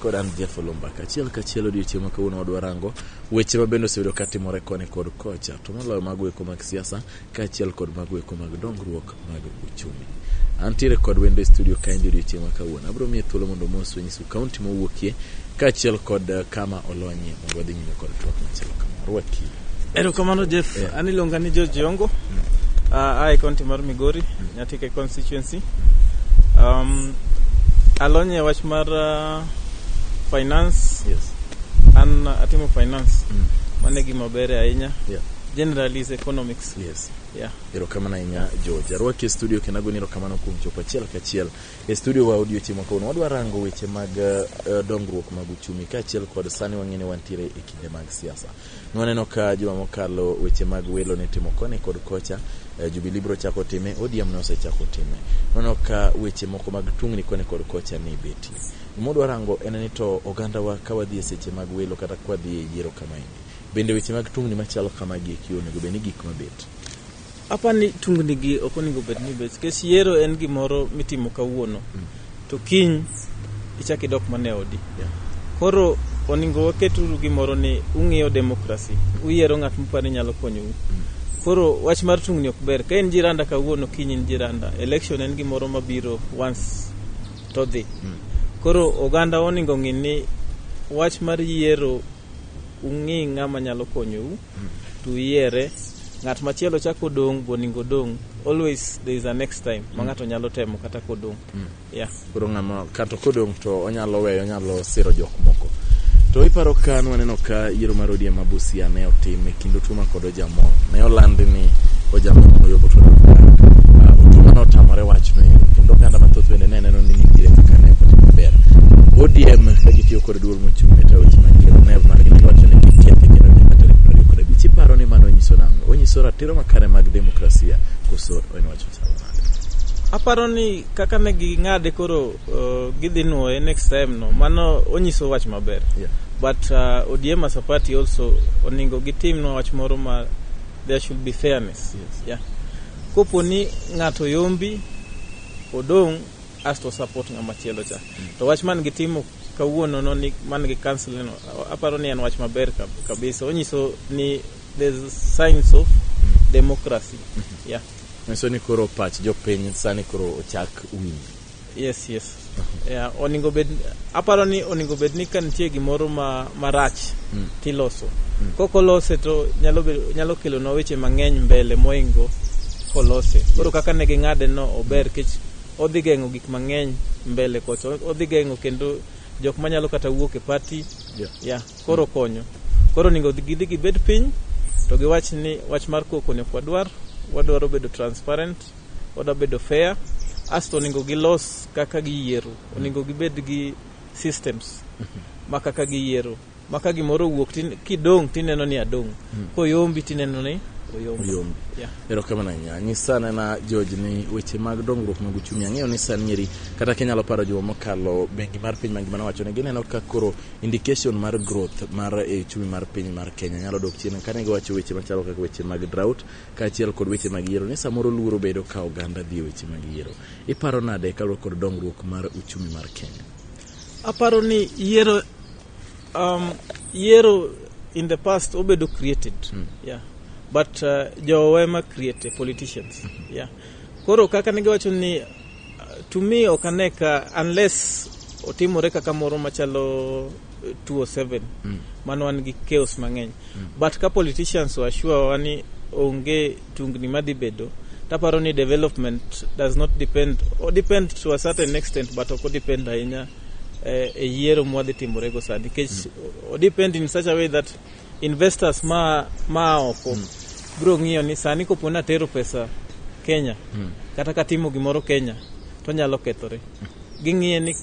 Kod an Jeff Olumba kachiel kachiel odiochieng' ma kawuono wadwa rango weche ma bende osebedo ka timore koni kod kocha to moloyo mago eko mag siasa kaachiel kod mago eko mag dongruok mag uchumi. Antiere kod wendo e studio kaendi odiochieng' ma kawuono abiro miye thuolo mondo omos wenyisu kaunti mowuokie kaachiel kod eh, kama olonye Wadhi nyime kod twak machielo kama. Rwaki. Erokamano Jeff, yeah. an iluonga ni George Yongo mm. uh, ah, ae kaunti mar Migori, mm. Nyatike constituency. Um, alony e wach mar uh, finance. Yes. An uh, atimo finance. Mm. Mano e gima ber ahinya. Yeah. Generally is economics. Yes. Yeah. Erokamano ahinya George. Arwaki e studio kendo agoni erokamano kuom chopo achiel kachiel E studio wa odiochieng' ma kawuono wadwa rango weche mag uh, dongruok mag uchumi kaachiel kod sani wang'e ni wantiere e kinde mag siasa. Nwaneno ka juma mokalo weche mag welo ne timo koni kod kocha, uh, eh, Jubilee biro chako time, ODM ne osechako time. Nwaneno ka weche moko mag tungni koni kod kocha ne betie. Gimodwa rango en ni to ogandawa ka wadhi e seche mag welo kata ka wadhi e yiero kamaendi. Bende weche mag tungni machalo kamagi eki onego bed ni gik mabet. Apa ni tungni gi ok onego bed ni bet kes yiero en gimoro mitimo kawuono mm. to kiny ichak idok mane odi. Yeah. Koro oningo waketuru gimoro ni ung'iyo demokrasi, uyiero ng'at muparo ni nyalo konyou. Mm. Koro wach mar tungni ok ber. Ka en jiranda kawuono kiny en jiranda. Election en gimoro mabiro once to dhi. Mm. Koro oganda oningo ng'e ni wach mar yiero ung'i ng'ama nyalo konyou. to yiere ng'at machielo chako odong' boningo odong' always there is a next time ma ng'ato nyalo temo kata kodong' yeah. koro ng'ama kato kodong' to onyalo weyo onyalo siro jok moko to iparo ka nwaneno ka yiero mar odiem ma busia ne otim e kind otuma kod ojamo ne olandi ni ojamo noyobo to Ah, otuma ne otamore wachno ero kendo oganda mathoth bende ne neno ni nitiere kaka ne ok otim maber odiem ka gitiyo kod Duol mochung' e taweche mag Geneva man gi wacho ni kitia kendo nyaka tarik piero ariyo kod abich. Iparo ni mano onyiso nang'o? Onyiso ratiro makare mag demokrasia koso en wacho chal nade? Aparo ni kaka ne ging'ade koro uh, gidhi nwoye next time no mano onyiso wach maber Yeah. but uh, ODM as a party also oningo gitimnwa wach moro ma there should be fairness Yes. yeah. kopo ni ng'ato yombi odong' asto support ng'ama chielo cha to wach man gitimo Kawuono no ni man gi council no aparo ni en wach maber kab- kabisa. Onyiso ni there's signs of democracy. Yeah. Nyiso ni koro pach jopiny sani koro ochak winjo. Yes, yes. Yeah, oningo bed aparo ni oningo bed ni ka nitie gimoro ma marach Mm. tiloso. Koko lose to nyalo bedo nyalo kelo na weche mang'eny mbele moingo kolose. Koro kaka ne ging'ade no ober kech odhi geng'o gik mang'eny mbele kocha odhi geng'o kendo jok manyalo kata wuok e party Yeah. yeah, koro konyo koro onego gidhi gibed piny to giwach ni wach mar koko ne kwadwar wadwaro bedo transparent wadwa bedo fair asto onego gilos kaka giyiero onego gibed gi systems ma kaka giyiero ma ka gimoro owuok tin- kidong' tineno ni adong' Hmm. koyombi tineno ni oyombi Oyombi. Yeah. erokamano ahinya nyisa nena george ni weche mag dongruok mag uchumi ang'eyo ni san nyeri kata kinyalo paro juma mokalo bengi mar piny mangima nowacho ni gineno ka koro indication mar growth mar eh, uchumi mar piny mar kenya nyalo dok chien kane giwacho weche machalo kaka weche mag drought kaachiel kod weche mag yiero ni samoro luoro bedo ka oganda dhi e weche mag yiero iparo nade kaluwore kod dongruok mar uchumi mar kenya Aparo ni yiero um, yiero in the past obedo created. Mm. Yeah. But uh, jowa ema create politicians. Mm-hmm. Yeah. Koro kaka ne giwacho ni uh, to me ok ane ka unless otimore kaka moro machalo 207 uh, mm. mano wan gi chaos mang'eny mm. but ka politicians washua wani onge tungni madhi bedo taparo ni development does not depend or depend to a certain extent but ok depend ahinya eh, e yiero mwadhi timorego sani nikech mm. odepend in such a way that investors ma, ma oko mm. biro ng'iyo ni sani kopo ni atero pesa kenya mm. kata katimo gimoro kenya to nyalo kethore mm. ging'iye ni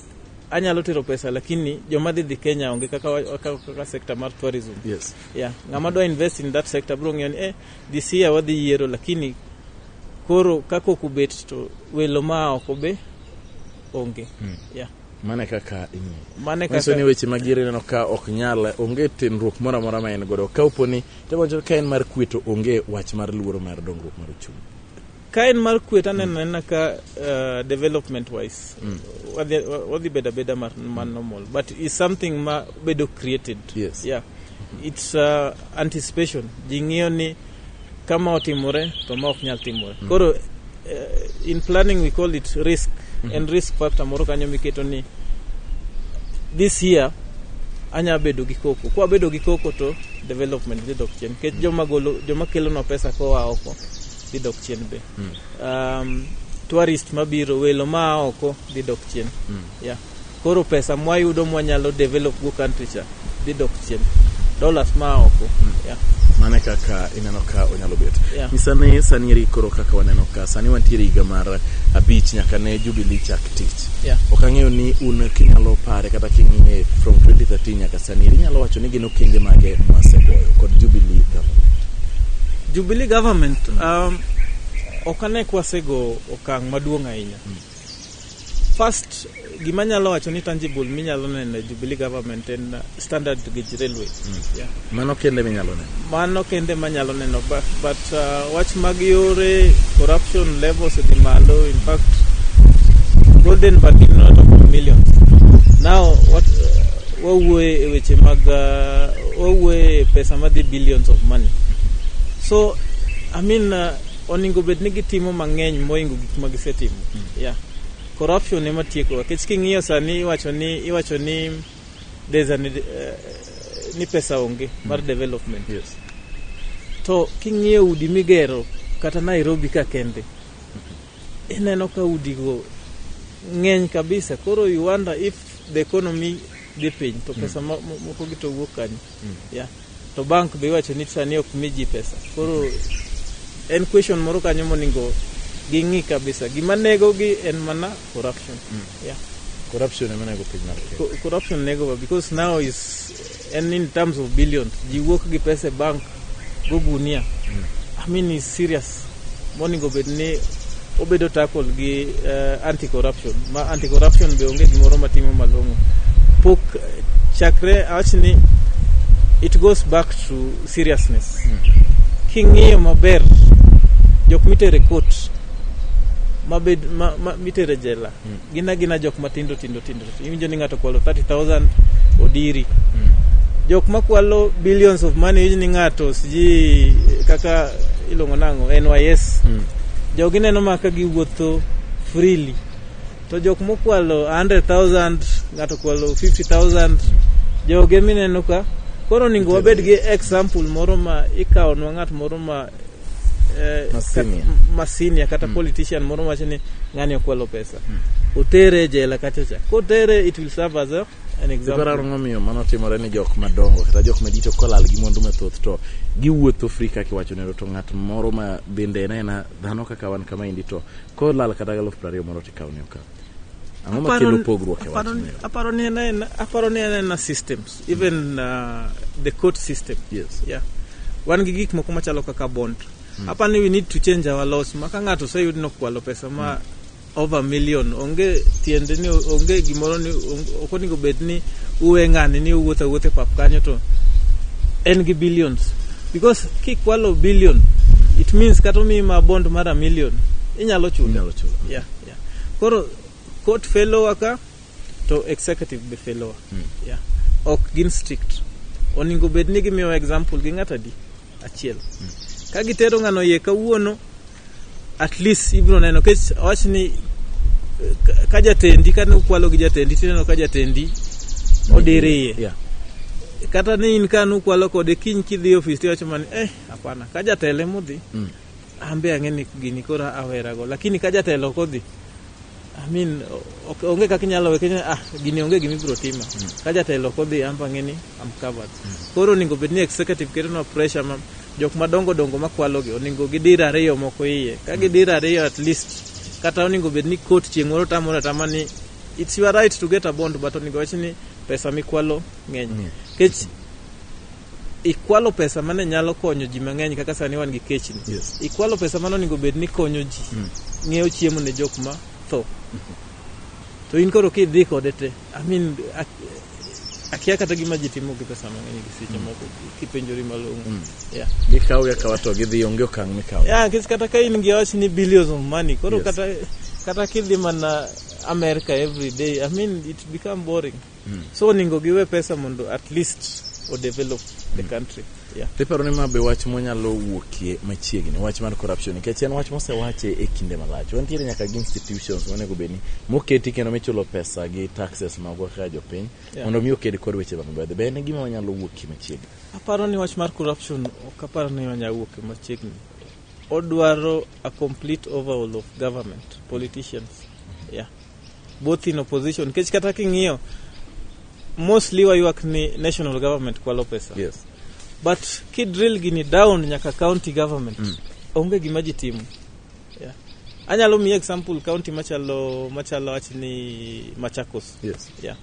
anyalo tero pesa lakini joma dhi dhi kenya onge kaka, kaka, kaka sector mar tourism yes. yeah. ng'ama dwa invest in that sector biro ng'iyo ni eh, Dhi siya wadhi yiero lakini koro kaka ok ubet to welo ma oko be onge. Hmm. Yeah. Mane kaka mane kaka ni weche magire neno ka ok nyal onge tenruok moro amora ma en godo ka oponi to ka en mar kweto onge wach mar luoro mar dongruok mar uchumi. ka en mar kwe to aneno anena ka uh, development wise mm. wadhi wadhi bedo abeda mar mar normal but is something ma bedo created Yes. yeah it's uh, anticipation ji ng'iyo ni kama otimore to ma ok nyal timore koro uh, in planning we call it risk en risk factor moro kanyo miketo ni this year anya bedo gi koko kwa bedo gi koko to development dhi dok chien nikech joma golo joma kelonwa pesa koa oko dhi dok chien be mm. um, tourist mabiro welo maa oko dhi dok chien mm. yeah. koro pesa mwayudo mwanyalo develop go country cha dhi dok chien dollars maa oko mm. yeah mane kaka ineno ka onyalo bet yeah. misane sani eri koro kaka waneno ka sani wantiere higa mar abich nyaka ne jubilee chak tich Yeah. ok ang'eyo ni un kinyalo pare kata king'iye from 2013 nyaka sani eri inyalo wacho ni gin okenge mage mwasegoyo kod jubilee government Jubilee government um, ok ane kwasego okang' maduong' ahinya first gima nyalo wacho ni tangible minyalo neno e Jubilee government en uh, standard gauge railway. Mm. Yeah. Mano kende minyalo neno. Mano kende manyalo neno but, but uh, wach mag yore corruption levels odhi malo in fact golden but in not of millions. Now what uh, wawuoye e weche mag uh, wawuoye e pesa madhi billions of money. So I mean uh, oningo bed ni gitimo mang'eny moingo gik ma gisetimo. Mm. Yeah. Corruption ema tiekowa. Kech king'iyo sani iwacho ni iwacho ni there's an, uh, ni pesa onge mar development Yes. to king'iyo udi migero kata nairobi ka kende ineno ka udigo ng'eny kabisa koro you wonder if the economy dhi piny to pesa mo- mo- mokogi to wuok kanye Yeah. To bank be iwacho ni sani ok mi ji pesa. Koro en question moro kanyo monego ging'i kabisa. Gima negogi en mana corruption. Yeah. Corruption ema nego piny mar Kenya. Co- corruption negowa because now is and in terms of billions ji wuok gi pesa e bank go gunia i mean is serious moningo bed ni obedo tackle gi uh, anti corruption ma anti corruption be onge gimoro matimo malong'o pok chakre awach ni it goes back to seriousness mm. king'iyo maber jok mitere court mabed ma, ma, mitere jela mm. Gin agina jok matindo tindo tindo. Iwinjo ni ng'ato kwalo 30,000 odiri. Hmm. Jok makwalo billions of money iwinjo ni ng'ato siji kaka ilongo nang'o NYS. Hmm. Jogi neno ma ka giwuotho freely. To jok mokwalo 100,000 ng'ato kwalo 50,000 hmm. joge mineno ka koro ningo wabed gi example moro ma ikawo nwa ng'at moro ma eh, Ma senior. kat- ma senior kata politician moro wacho ni ng'ani okwalo pesa otere e jela kacha cha kotere it will serve as a, an example Ipararo momiyo mano timore ni jok madongo kata jok madito kolal gi mwandu mathoth to giwuotho free kaka iwacho nero to ng'at moro ma bende en aena dhano kaka wan kama indi to kolal kata galufu prariyo moro to ikawne okaw. Ang'o ma kelo pogruok e wach mero? Aparo ni en en aparo ni en en systems even uh, the court system. Yes. Yeah. Wan gi gik moko machalo kaka bond. Mm. Aparo ni we need to change our laws ma ka ng'ato oseyud ni okwalo pesa ma mm. over million onge tiende ni onge gimoro ni ok onego bed ni uwe ng'ani ni uwuotho awuotho e pap kanyo to en gi billions because kikwalo billion it means kata omiyi ma bond mar a million inyalo chulo. Inyalo chulo. Yeah. Yeah. Koro court fellowa ka to executive be fellowa. Mm. Yeah. Ok gin strict. Oningo bed ni gimiyo example gi ng'ata di achiel. Mm. Ka gitero ng'ano ye kawuono at least ibro neno kech wach ni eh, ka jatendi ka nukwalo gi jatendi tineno ka jatendi odire iye. Yeah. Kata ni in ka nukwalo kode kiny kidhi ofis tiwacho mani eh hapana ka jatele mudhi. Mm. An be ang'e ni gini koro awera go. Lakini ka jatelo ok odhi, I mean, ok- onge kaka inyalo we kenya, ah, gini onge gima ibiro tima. Ka jatelo ok odhi, an be ang'e ni I'm covered. Koro onego bed ni executive ketonwa pressure ma jok madongo dongo makwalogi onego gidir ariyo moko iye. Ka gidir ariyo at least, kata onego bed ni court chieng' moro tamore atama ni it's your right to get a bond but onego wach ni pesa mikwalo ng'eny. Kech ikwalo pesa mane nyalo konyo ji mang'eny kaka sani wan gi kechni yes. ikwalo pesa mane onego bed ni konyo ji mm. ng'iewo chiemo ne jok ma tho mm -hmm. to in koro kidhi kode te I mean, akia kata gima ji timo gi pesa mang'eny gi seche mm. moko kipenjori malong'o mm. yeah. gikawo gakawa to gidhi onge okang' mikawo yeah, kis kata ka in gi wach ni billions of money koro yes. kata, kata kidhi mana america every day i mean it become boring Mm. So oningo giwe pesa mondo at least o develop the mm. country. Yeah. Tiparo ni ma be wach monyalo wuokie machiegni wach mar corruption nikech en wach mosewache e kinde malach. Wantiere nyaka gi institutions monego bed ni moketi kendo michulo pesa gi taxes mag kaka jopiny yeah. mondo mi oked kod weche mag mbedhe. Be en gima wanyalo wuokie machiegni? Aparo ni wach mar corruption ok aparo ni wanyalo wuokie machiegni. Odwaro a complete overhaul of government politicians. Yeah. both in opposition nikech kata king'iyo mostly waywak ni national government kwalo pesa yes. but kidrill gini down nyaka county government mm. onge gima ji timo yeah. anyalo miye example county machalo machalo wach ni machakos yes. Yeah.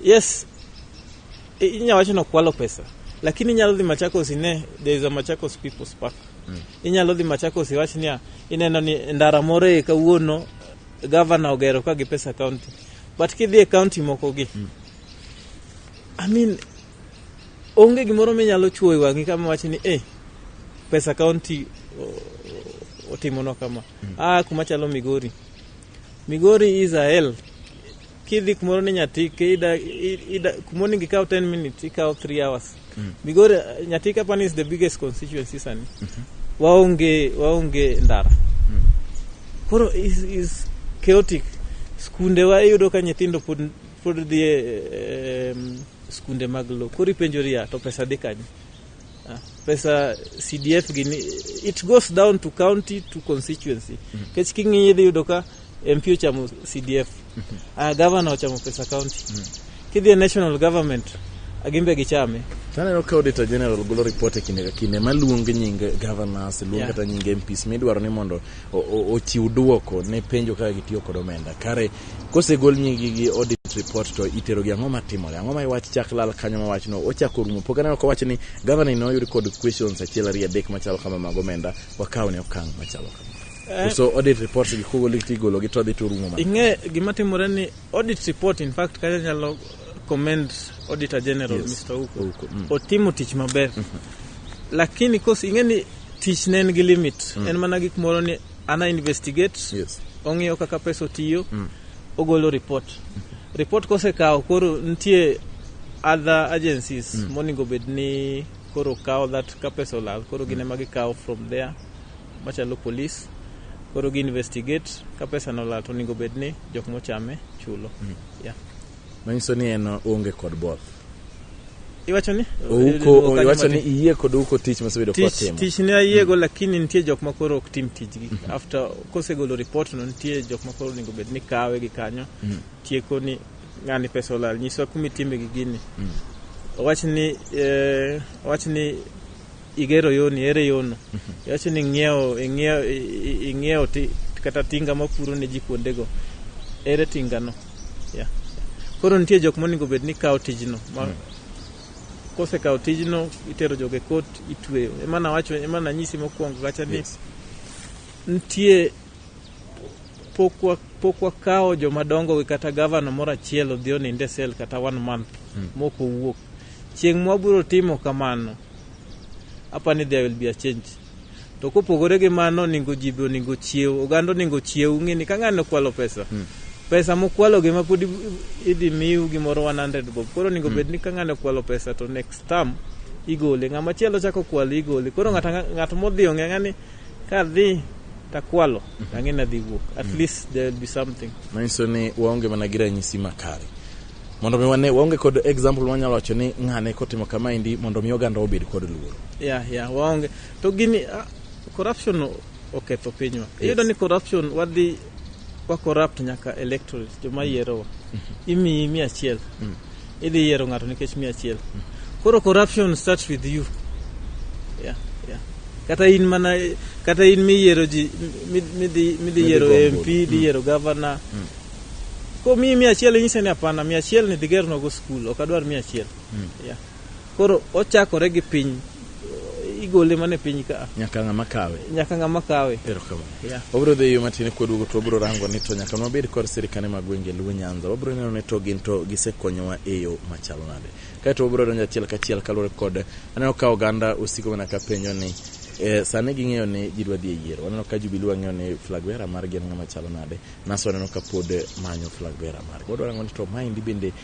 yes inya wacho ni okwalo pesa lakini inyalo dhi machakos ine there is a machakos people's park mm. inyalo dhi machakos iwach niya Ineno ni ndara moro e kawuono gavana ogero ka gi pesa kaunti but kidhi e kaunti mokogi mm. I mean, onge gimoro minyalo chuo e wang'i kama wachi ni eh, pesa kaunti otimonwa kama mm. ah, kuma chalo migori Migori is a hell. Kidhi kumoro ni Nyatike, ida, ida, kumoro ningi kawo 10 minutes, ikawo 3 hours. Mm. Migori, Nyatike apani is the biggest constituency sani. Mm -hmm. Waonge, waonge ndara. Mm. Koro is, is chaotic. Skunde wa iyudo ka nyithindo pod, pod dhie um, skunde mag lo. Koro ipenjori ya, to pesa dhi kanye? Ah, pesa CDF gini it goes down to county to constituency mm-hmm. kech king'iyi idhi yudo ka MP ochamo CDF mm-hmm. uh, governor ochamo pesa county mm-hmm. kidhi e national government agimbe ah, gichame taneno ka auditor general golo report e kinde ka kinde maluong nying governors luong yeah. kata nying MPs midwaro ni mondo ochiw duoko ne penjo kaka gitiyo kod omenda kare kosegol nyigi gi audit report to itero gi ang'o matimore ang'o ma iwach chak lal kanyo ma wachno ochako rumo pok aneno ka wacho ni gavana ne oyud kod questions achiel ariyo adek machalo kama mag omenda wakaw ne okang' machalo kama eh. so audit report gi kogol tigolo gi to dhi to rumo ing'e gima timore ni audit report in fact kata nyalo commend Auditor General yes. Mr. Uko. Uko. Mm. Otimo tich maber. Mm -hmm. Lakini kos ing'e ni tich ne en gi limit. Mm. En mana gik moro ni ana investigate. Yes. Ong'iyo kaka pesa otiyo. Mm. Ogolo report. Mm. Report kosekawo koro nitie other agencies mm. monego bed ni koro kawo that ka pesa olal koro gin mm. ema gikawo from there machalo police koro gi investigate ka pesa nolal to onego bed ni jok mochame chulo mm. Yeah. Manyiso ni en onge kod both. Iwacho ni? Ouko, iwacho ni iye kod ouko tich mosebedo kwa timo. Tich ni ayiego mm. lakini nitie jok ma koro ok tim tijgi. Mm -hmm. After kosegolo report no nitie jok ma koro onego bed ni kawe gi kanyo. Mm -hmm. Tieko ni ng'ani pesa olal. Nyiswa kumi timbe gi gini. Mm -hmm. Owach ni, eh, owach ni igero yoni ere yono iwacho ni ing'iewo ing'iewo ing'iewo kata tinga mapuro ne ji kuondego ere tingano yeah. koro nitie jok monego bed ni kawo tijno ma mm. kosekawo tijno itero joge kot itweyo emana wacho emana nyisi mokwongo kacha ni yes. nitie pok wakawo joma dongo gi kata gavana moro achiel odhi oninde sel kata one month hmm. mok owuok chieng' mwabiro timo kamano apa ni there will be a change to kopogore gi mano oningo ji be oningo chiew oganda oningo chiew ng'eni ka ng'ani okwalo pesa hmm. pesa mokwalo gi ma pod idhi miu gimoro 100 bob koro oningo hmm. bed ni ka ng'ani okwalo pesa to next term igole ng'ama chielo chako kwalo igole koro ng'at modhi ong'e ng'ani Ka dhi takwalo mhm. ang'e ni adhi wuok at mhm. least there will be something manyiso ni waonge mana gi ranyisi makare mondo mi wane waonge kod example wanyalo wacho ni ng'ane kotimo kamaendi mondo mi oganda obed kod luoro ya ya waonge to gini ah, corruption oketho pinywa iyudo ni corruption wadhi wa corrupt nyaka electorate joma yierowa imiyi mia achiel idhi yiero ng'ato nikech mia achiel koro corruption starts with you yeah, yeah. kata in mana kata in miyiero ji mi- midhi midhi yiero gombo. mp idhi yiero gavana komiyi mia achiel inyise ni hapana mia achiel ni dhi gernwago skul ok adwar mia achiel yeah. koro ochakore gi piny igole mana e piny ka nyaka ng'ama kawe nyaka ng'ama kawe erokamano yeah. wabiro dhi yo matin kwaduogo to wabiro rango ni to nyaka nwabed kod sirikane mag gwenge luo nyanza wabiro neno ni to gin to gisekonyowa e yo machalo nade kaeto wabiro donjo achiel kachiel kaluwore kod aneno ka oganda osiko mana ka penjo ni Eh, sani ging'eyo ni ji dwa dhi e yiero waneno ka jubilu wang'eyo ni flag vera margi en ng'ama chalo nade naso waneno ka pod manyo flag vera margi wadwa rango ni to maendi bende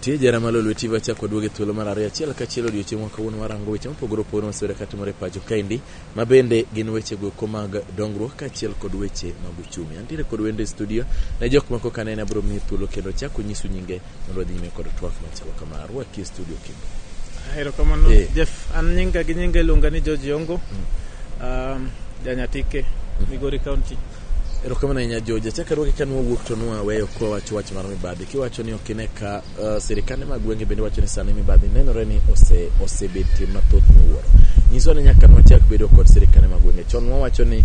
Tie jara malo lweti wachak waduog e thuolo mar ariyo achiel kachiel odiochieng' wa kawuono warango weche mopogore opogore masewere ka timore e pacho kaendi ma bende gin weche goeko mag dongruok kaachiel kod weche mag uchumi antiere kod wende e studio ne jok mako ka nene abiro miyo thuolo kendo chako nyisu nyinge mondo wadhi nyime kod twak machalo kama arwaki e studio kendo erokamano Eh. jeff an nyinga gi nyinga iluonga ni george yongo um, janyatike migori county Erokamano ahinya Joja. Chaka ruoke ka nwawuok to nwaweyo kwa wacho wach mar mibadhi. Kiwacho ni ok ine ka uh, sirikande mag gwenge bende wacho ni sani mibadhi nenore ni ose osebetie mathoth miwuoro. Nyiswa ni nyaka nwachak bedo kod sirikande mag gwenge. Chon wawacho ni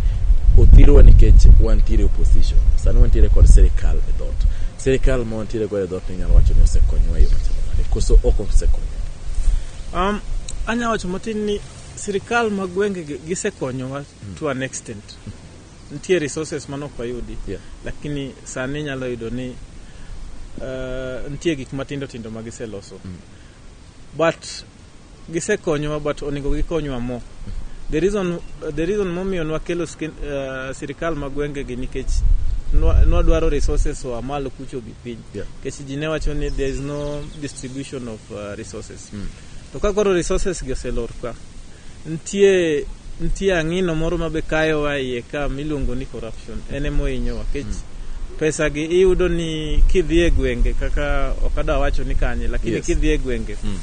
othirwa nikech wantiere opposition. Sani wantiere kod sirikal e dhot. Sirikal ma wantiere godo e dhot ni nyalo wacho ni osekonyowa e yo machalo nade. Koso ok osekonyowa. Um, anya wacho matin ni sirikal mag gwenge gi- gisekonyowa to an extent nitie resources mane ok wayudi yeah. lakini sani inyalo yudo ni uh, nitie gik matindo tindo ma giseloso mm. but gisekonyowa but onego gikonywa mo the reason, the reason momiyo nwakelo uh, sirikal ma gwengegi nikech nwadwaro resources oa malo kucho gi piny nikech yeah. ji ne wacho ni there is no distribution of uh, resources mm. To ka koro resources gi oselor ka, nitie nitie ang'ino moro ma be kayowa iye ka miluongo ni corruption. En ema ohinyowa kech hmm. pesa gi iyudo ni kidhi e gwenge kaka ok adwa wacho ni kanye lakini yes. kidhi e gwenge hmm.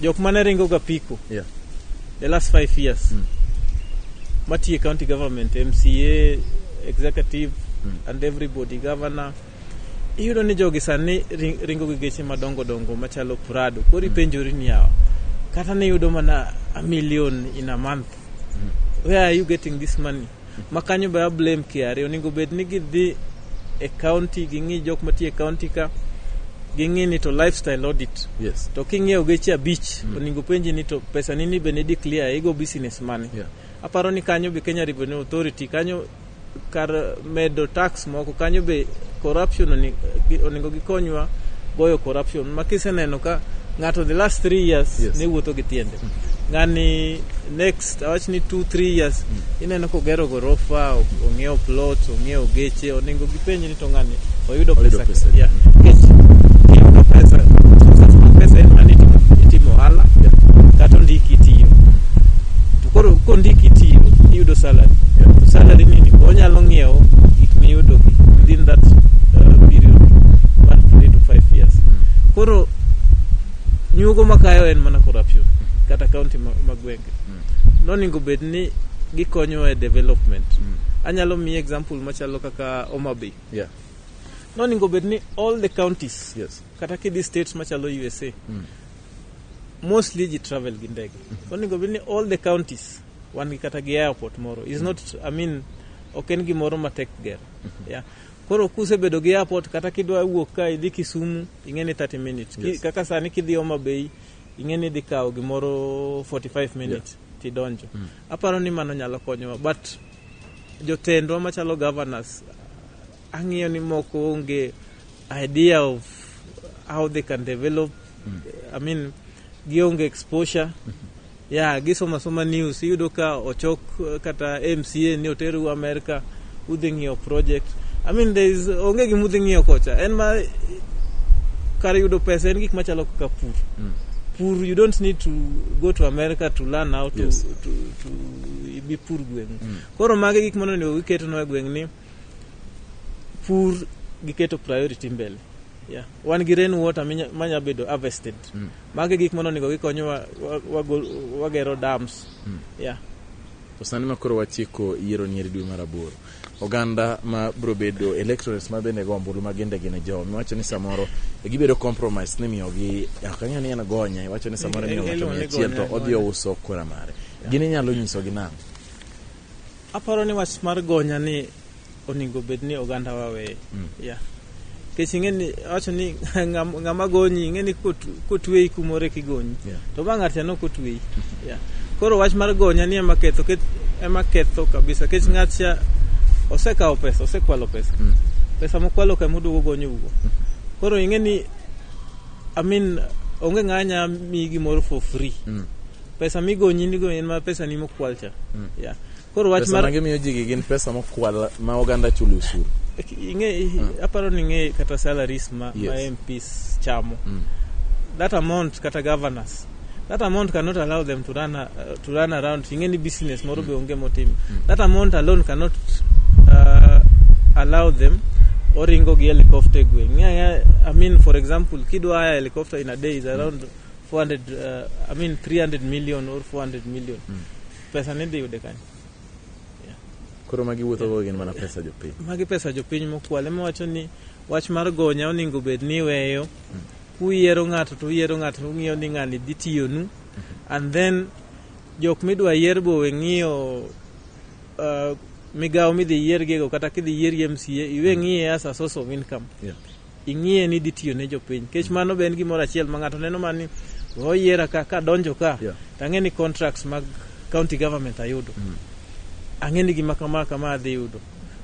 jok mane ringo ga piko yeah. the last five years hmm. matiye county government, MCA, executive hmm. and everybody, governor iyudo ni jogi sani ringo gi geche madongo dongo machalo prado koro ipenjori ni yawa kata ne yudo mana a million in a month mm. where are you getting this money ma kanyo be ablame kiare onego bed ni gidhi e county ging'i jok matie e county ka ging'i ni to lifestyle audit yes. to king'iewo geche abich mm. onego penji ni to pesa nini be ne declare igo business money yeah. aparo ni kanyo be kenya revenue authority kanyo kar medo tax moko kanyo be corruption onego gikonywa goyo corruption ma kiseneno ka ng'ato the last three years yes. ne wuotho gi tiende mm. ng'ani next awach ni two three years mm. ineno kogero gorofa ong'iewo plot ong'iewo geche onego gipenj to ng'ani oyudo Oyudo pesa pesa. yeah. Nikech kiyudo pesa sasa ma pesa en mane itimo- itimo ohala Yeah. kata ondiki tiyo to koro kondiki tiyo iyudo salary Yeah. to salary nini onyalo ng'iewo gik miyudo gi within that uh, period one to three to five years koro nyugo makayo en mana corruption kata county ma, ma gwenge noningo bed ni gikonyowa e development Mm. anyalo miyi example machalo kaka ka Homa Bay. Yeah. No ningo bed ni all the counties. Yes. Kata ki these states machalo USA. Mm. Mostly ji travel gi ndege. Mm -hmm. So ningo bed ni all the counties wan gi kata gi airport moro. Is mm. not I mean ok en gimoro matek ger. Mm -hmm. Yeah. Koro kuse bedo gi airport kata kidwa wuok ka idhi Kisumu ing'eni 30 minutes. Yes. Ki, kaka sani kidhi Homa Bay ing'eni idhi kawo gimoro 45 minutes yeah. tidonjo. Mm. Aparo ni mano nyalo konyowa but jotendwa machalo governors ang'iyo ni moko onge idea of how they can develop mm. i mean gionge exposure mm -hmm. ya yeah, gisoma soma news iyudo ka ochok eh, kata mca ni oteru america udhi ng'iyo project i mean there is onge gima udhi ng'iyo kocha en ma kar yudo pesa en gik machalo kaka pur mm. pur you don't need to go to america to learn how to, yes. to, to, to gipur gweng' mm. koro magi gik mondo onego giketonwa e gweng' ni pur giketo priority mbele yeah. wan gi rain water manya bedo harvested mm. magi gik mondo onego gikonyo wagero dams mm. yeah. to sani ma koro wachiko yiero nyeri dwe mar aboro oganda ma biro bedo electorate ma bende go ombulu ma ginde gine jo miwacho ni samoro gibedo compromise ni miyogi ok ang'eyo ni en gonye iwacho ni samoro miyo ng'ato mia achiel to odhi ouso kura mare gin inyalo nyisogi nang'o aparo ni wach mar gonya ni onego bed ni oganda wawe yeah. nikech ing'eni wacho ni ng'ama gonyi ing'eni kotweyi kumore kigonyi yeah. to ma ng'ato chano kotweyi mm-hmm. yeah. koro wach mar gonya ni ema ketho ema ketho kabisa kech mm. ng'atcha osekawo pesa osekwalo pesa mm. pesa mokwalo ka moduogo gonyo ugo mm. koro ing'eni i mean onge ng'anya mi gimoro for free mm. pesa migonyi nigo en ma pesa ni mokwal cha mm. yeah. koro wach mar gimiyo ji gin pesa mokwal ma oganda chulo osuru ing'e mm. aparo ni ing'e kata salaries ma, yes. ma MPs chamo mm. that amount kata governors that amount cannot allow them to run, uh, to run around ing'e ni business moro mm. be onge motim mm. that amount alone cannot uh, allow them oringo gi helicopter gweng' yeah, yeah, I mean for example kidwa haya helicopter in a day is around mm. 400 uh, I mean 300 million or 400 million mm. pesa ni dhi yude kanyo koro magi wuotho go gin mana pesa jopiny magi pesa jopiny mokwal ema wacho ni wach mar gonya oningo bed ni iweyo hmm. kuyiero ng'ato to uyiero ng'ato to ung'iyo ni ng'ani dhi tiyonu hmm. and then jok midwa yier bowe ng'iyo uh, migawo midhi yiergiego kata kidhi yiergi mca iwe ng'iye as a source of income yeah. ing'iye ni idhi tiyo ne jopiny nikech mano be en gimoro achiel ma ng'ato neno ma ni oyiera ka kadonjo ka Yeah. to ang'e ni contracts mag county government ayudo ang'e ni gima kama kama adhi yudo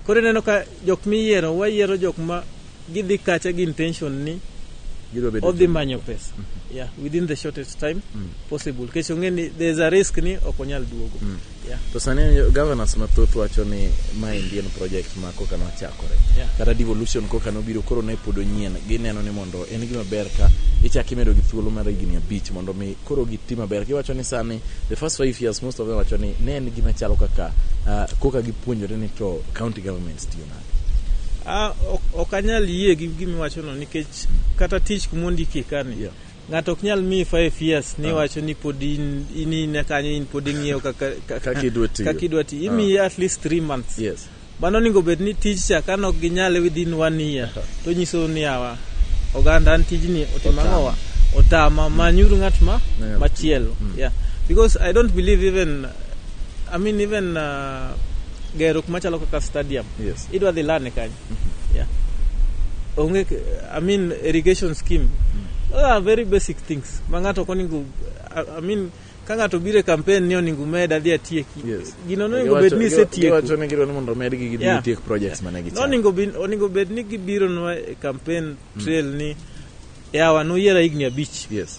koro ineno ka jok miyiero wayiero jok ma gidhi kacha gi intention ni Gidwa bedo odhi manyo pesa yeah, within the shortest time possible nikech ong'e ni there is a risk ni ok onyal duogo Yeah. To sani governors mathoth wacho ni ma Indian project ma koka nochakore. Yeah. Kata devolution koka nobiro koro ne pod onyien. Gineno ni mondo en gima ber ka ichak imedo gi thuolo mar higni abich mondo mi koro giti maber. Giwacho ni sani the first five years most of them wacho ni ne en gima chalo kaka uh, koka gipuonjore ni to county governments tiyo nade. Ah, ok anyal yie gi gimiwachono nikech kata tich kuma ondiki kani yeah. Ng'ato ok nyal miyi five years ni ah. wacho ni pod in in in kanyo in pod ing'iyo kaka kaka idwa tiyo. Kaka idwa tiyo. Imiyi ah. at least three months. Yes. Mano onego bed ni tij cha ka nok ginyale within one year ah. to nyiso ni awa oganda an tijni otimo ang'owa otama mm. manyuru ng'at ma machielo. Mm. Yeah. Because I don't believe even I mean even uh, gerruok machalo kaka stadium. Yes. Idwa dhi lane kanyo. Mm-hmm. Yeah. Onge, I mean, irrigation scheme. Mm. Those are very basic things. Ma ng'ato koningo, I mean, ka ng'ato biro e kampen ni oningo med adhi atieki yes. gino noningo bed ni isetiekogiwacho ni gidwa ni mondo omed gi gidhi yeah. tiek projects yeah. mane gichano oningo bed ni gibironwa e kampen mm. trail mm. ni yawa noyiera higni abich yes.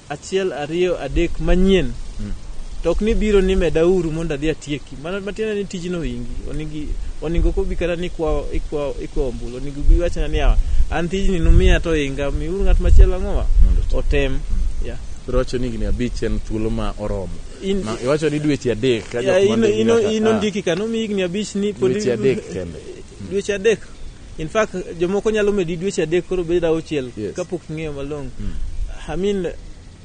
achiel ariyo adek manyien mm. to ok ni biro ni meda uru mondo adhi atieki mana matiende ni tijno wingi onigi oningo ko bi kata ni kwa ikwa ikwa ombulu oningo bi wachna ni awa an tijni numiya to inga mi uru ngat machielo angowa otem yeah rocho ni gini abich en thuolo ma oromo in, ma iwacho ni dweche adek ka jok ma ino ino ino ndiki kanu mi gini abich ni podi dweche adek kende dweche adek in fact jomoko nyalo medi dweche adek koro bed auchiel yes. kapok ing'eyo malong'o mm. i mean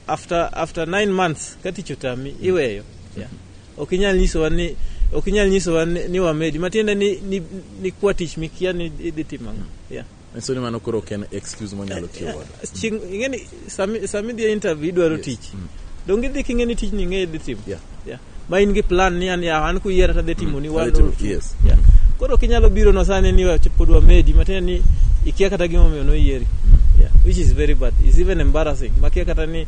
after after nine months ka tich otami mm. iweyo mm-hmm. yeah. ok inyal nyisowa ni ok inyal nyisowa ni wamedi matiende ni, ni, ni kwa tich mikia ni idhi timo ang'o mm. yeah. so ni mano koro ok en excuse monyalo tiyo godo Chieng' ing'e ni sami sami dhi e interview idwaro tich. Donge idhi king'e ni tijni ing'e idhi timo. Yeah. Yeah. Ma in gi plan ni an ya an kuyiera tadhi timo ni one Adhi timo- or two. yes. Yeah. Koro kinyalo biro no sani ni wa- pod wamedi matiende ni ikia kata gima omiyo noyieri. Yeah. Which is very bad. It's even embarrassing. Makia kata ni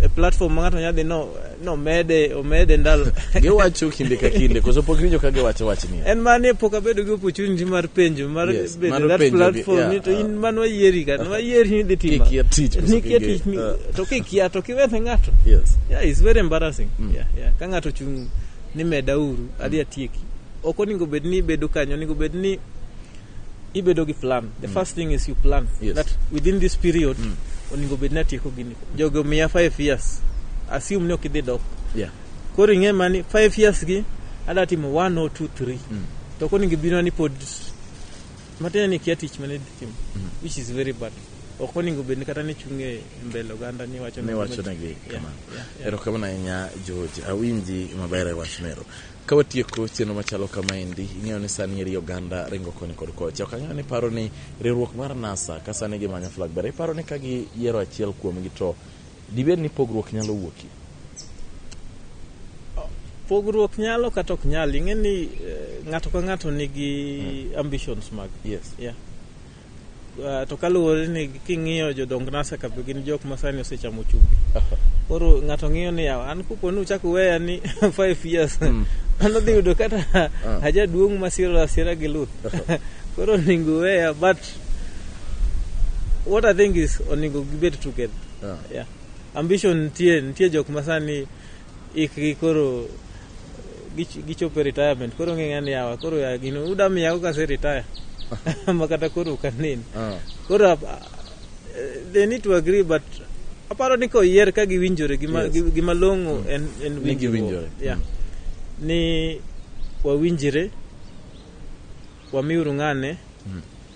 a platform ma ng'ato nyadhi no No mede, omede ndalo. giwacho kinde ka kinde, koso pok rijo ka giwacho wach ni. En mani pok abedo gi opportunity mar penjo, mar yes, bedo mar that platform, yeah, ni to in uh, man wayieri ka, uh, wayieri ni dhi tima. Kikia tich, koso kikia tich, uh, to kikia, to kiwethe ng'ato. Yes. Yeah, it's very embarrassing. Mm. Yeah, yeah. Ka ng'ato chung' ni meda uru, adhi atieki. Ok oningo bed ni bedo kanyo, oningo bed ni ibedo gi plan the mm. first thing is you plan yes. that within this period mm. oningo bed ni atieko gini jogo miya 5 years assume ni ok idhi dok yeah. koro ing'e mani 5 years gi ada timo 1 or 2 3 mm. to koningo bino ni pod matin ni kia tich mane dhi timo mm. which is very bad ok oningo bed ni kata ni chung' e mbele oganda ni wacho negi kamano erokamano ahinya george awinji maber e wach mero Ka watieko chenro machalo kamaendi, ing'eyo ni sani eri oganda ringo koni kod kocha. Ok ang'eyo ni paro ni riwruok mar NASA ka sani gimanyo flag bearer, iparo ni ka giyiero achiel kuomgi to dibed ni pogruok nyalo wuokie? pogruok nyalo kata ok nyal ing'e ni eh, ng'ato ka ng'ato nigi ambitions mag Yes. yeah. Ah, to kaluwore ni king'iyo jodong nasa ka gin jok ma sani osechamo chumbi koro ng'ato ng'iyo ni yawa an kupo ni uchak weya ni five years mm. an odhi yudo kata ah. ajaduong' masiro asira gi luth koro onego weya but what i think is onego gibed together ah. yeah. ambition nitie nitie jok masani ikgi koro gichopo e retirement koro ng'eng'a ni yawa koro ya gino uda miyago kase retire ma kata koro ukanen ah. koro ah, they need to agree but aparo ni koyier ka giwinjore gima long'o mm. en winjore mm. ni wawinjire wamiuru ng'ane mm.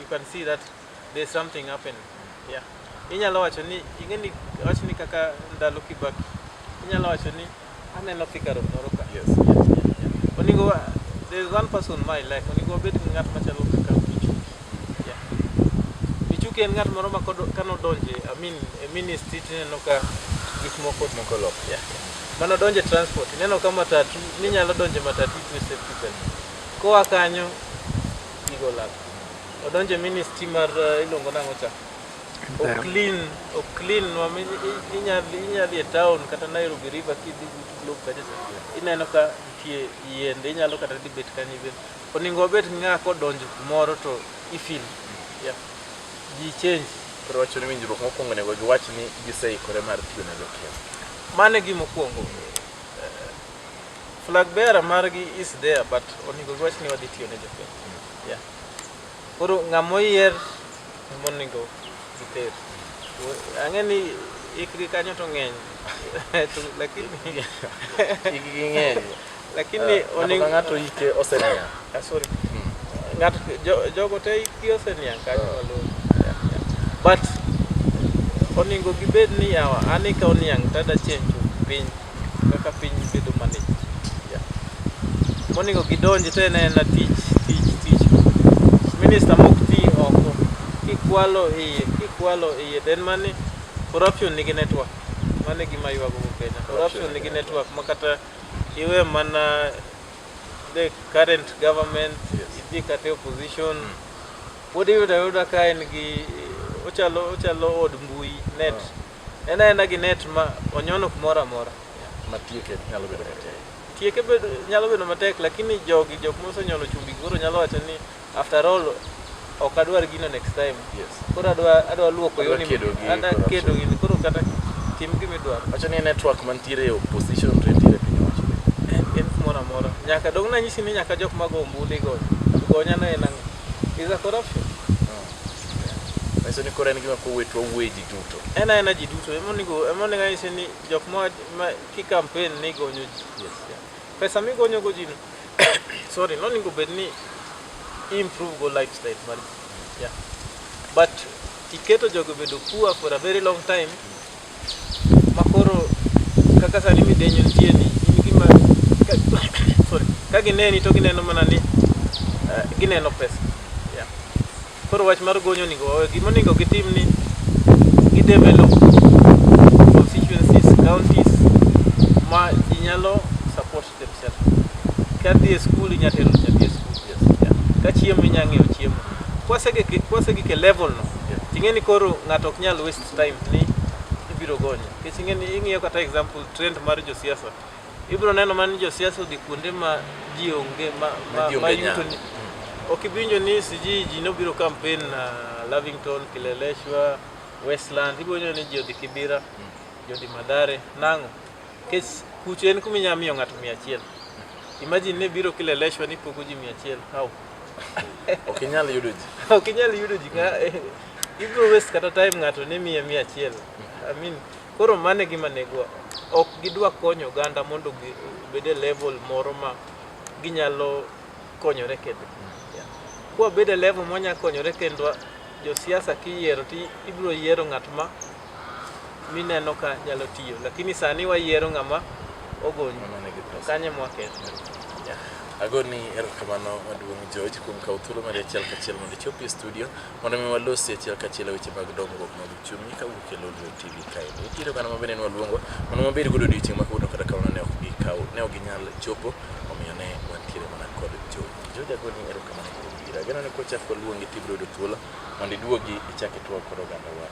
you can see that there's something happening yeah inyalo wacho ni ingeni wacho ni kaka ndalo kibaki inyalo wacho ni aneno figure moro ka yes oningo there's one person my life oningo obed gi ng'at machalo kaka Michuki yeah Michuki en ng'at moro ma kano donje i mean a ministry tineno ka gik moko moko lok yeah mano donje transport ineno ka matatu ninyalo donje matatu to safety belt koa kanyo Tigo lab. Odonje ministry mar uh, iluongo nang'o cha? There. Oklin, Oklin, wami inyadhi inyadhi e town kata Nairobi River kidhi but globe kata ineno ka nitie yiende inyalo kata dhi bet kanyo ibet. Oningo obet ng'a kodonjo kumoro to ifil. Yeah. Ji change. Koro wacho ni winjruok mokwongo onego giwach ni giseikore mar tiyo ne jokenya. Mano e gima okwongo. Flag bearer margi is there but onego giwach ni wadhi tiyo ne jopiny. Yeah. Koro ng'ama oyier ema onego giter. Ang'e ni ikri kanyo to ng'eny. To lakini Igi ging'eny. lakini Ng'ato onego ka ng'ato ike oseniang'. Ah, sorry. Ng'ato jo- jogo te ikgi oseniang' kanyo malong'o. Yeah, yeah. But onego gibed ni yawa an eka oniang' tada chenjo piny kaka piny bedo manich yeah. monego gidonji to en aena tich tich tich minista mok ti oko kikwalo iye kikwalo iye then mani corruption nigi network mano e gima ywago go kenya corruption nigi network ma kata iwe mana the current government Yes. idhi kata e opposition pod iyudo ayuda ka en gi ochalo ochalo od mbui net En aena gi net ma onyono kumoro amora. Ma tieke nyalo bedo matek. Tieke bedo, nyalo bedo matek, lakini jogi, jok mosenyono chumbi koro nyalo wacho ni after all ok adwar gino next time. Yes. Koro adwa, adwa luoko Adwa yoni. kedo gi Adwa corruption. kedo gini, koro kata tim gima idwaro. Wacho ni network mantiere e opposition to entiere e piny owacho. En, en kumoro amora. Nyaka dong' nanyisi ni nyaka jok mago ombulu igonyo. Gonyo anena ang'o? Is a corruption. Manyiso ni koro en gima kowet wawuoye ji duto. En aena ji duto ema onego ema onego anyis ni jok ma ma ki campaign ni gonyo ji. Yes. Yeah. Pesa migonyo go ji no. Sorry, no onego bed ni improve go lifestyle mar ji. Yeah. But iketo jogo bedo poor for a very long time makoro kaka sani midenyo nitie ni in gima sorry ka gineni to gineno mana ni uh, gineno pesa yeah. koro wach mar gonyo onego wawe gima onego gitim ni gidevelop constituencies counties ma ji nyalo kadhi e skul inya tero nyathi e skul kachiemo inya ng'eyo chiemo kwasegik e level no ting'e ni koro ng'ato ok nyal waste time ni ibiro gonye nikech ing'e ni ing'iyo kata example trend mar josiasa ibiro neno mana ni josiasa odhi kuonde ma ji onge ma Ma ji onge ma yuto nya. ni ok iwinjo ni siji ji nobiro campaign na Lavington Kileleshwa Westland ibiro neno ni ji odhi Kibira ji odhi Madare nang'o Kech kucho en kuma inyalo miyo ng'ato mia achiel. Imagine ne biro kila election ni pogo ji mia achiel. How? Ok inyal yudo ji. ok inyal yudo ji. Nga- eh, Ibiro waste kata time ng'ato ne miye mia achiel. I mean, koro mane gima negwa. Ok gidwa konyo oganda mondo gi- obed e level moro ma ginyalo konyore kendgi. Yeah. Kwa bed e level mwanya konyore kendwa, josiasa kiyiero ti ibiro yiero ng'at ma mineno ka nyalo tiyo lakini sani wayiero ng'ama ogony kanye mwaket agoni erokamano maduong' George kuom kawo thuolo mari achiel kachiel mondo ichop e studio mondo mi walosi achiel kachiel e weche mag dongruok mag uchumi ka wuok e Lolwe TV kae nitiere oganda ma bende ne waluongo mondo mabed godo odiochieng' ma kawuono kata kamano ne ok gikaw ne ok ginyal chopo omiyo ne wantiere mana kod George George agoni erokamano kuom biro ageno ni kochak waluongi tibiro yudo thuolo mondo iduogi ichak itwag kod ogandawa